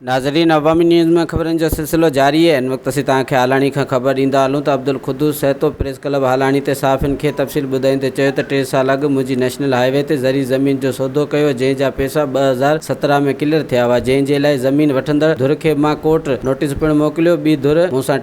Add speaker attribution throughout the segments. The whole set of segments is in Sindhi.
Speaker 1: ناظرين عوامي نيوز ۾ خبرن جو سلسلو جاري هي ان وقت اسين توهان کي هالاڻي کان خبر ڏيندا هلون ته عبدالقدوس سهتو پريس ڪلب هالاڻي تي صحافين کي تفصيل ٻڌائيندي چيو ته ٽي سال اڳ منهنجي نيشنل هاء وي تي زرعي زمين جو سودو ڪيو جنهن جا پئسا ٻه هزار سترهن ۾ ڪليئر ٿيا هئا جنهن جي لاء زمين وٺندڙ ڌر کي مان ڪورٽ نوٽيس پڻ موڪليو ٻي ڌر مون سان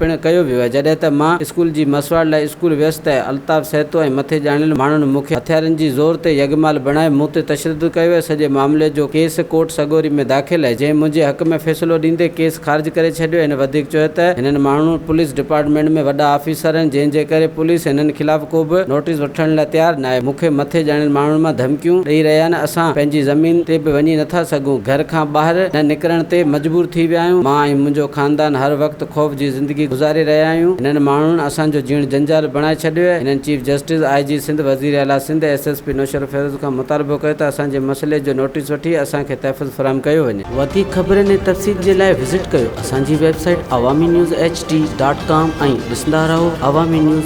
Speaker 1: پڻ ڪيو ويو آهي. جڏهن ته مان اسڪول جي مسواڙ لاء اسڪول ويس ته الطاف سهتو ۽ مٿي ڄاڻيل ماڻهن مون کي هٿيارن جي زور تي يگمال بڻائي مون تي تشدد ڪيو ويو. سڄي معاملي جو ڪيس ڪورٽ سڳوري ۾ داخل آهي جنهن منهنجي حق ۾ فيصلو ڏيندي ڪيس خارج ڪري ڇڏيو. هن وڌيڪ چيو ته هنن ماڻهن پوليس ڊپارٽمينٽ ۾ وڏا آفيسر آهن جنهن جي ڪري پوليس هنن خلاف ڪو به نوٽيس وٺڻ لاء تيار ناهي. مون کي مٿي ڄاڻيل ماڻهن مان ڌمڪيون ڏئي رهيا آهن. اسان پنهنجي زمين تي به وڃي نٿا سگهون. گهر کان ٻاهر نه نڪرڻ تي مجبور ٿي ويا آهيون. مان ۽ منهنجو خاندان هر وقت. ته خوف جي زندگي گذاري رهيا آهيون، هنن ماڻهن اسان جو جيئڻ جنجال بڻائي ڇڏيو آهي، هنن chief justice, I G Sindh, وزير اعليٰ Sindh ۽ S S P Naushahro Feroze کان مطالبو ڪيو ته اسان جي مسئلي جو نوٽيس وٺي اسان کي تحفظ فراهم ڪيو وڃي. وڌيڪ خبرن ۽ تفصيل جي لاء وزٽ ڪيو اسان جي website Awami news H D dot com ۽ ڏسندا رهو عوامي نيوز.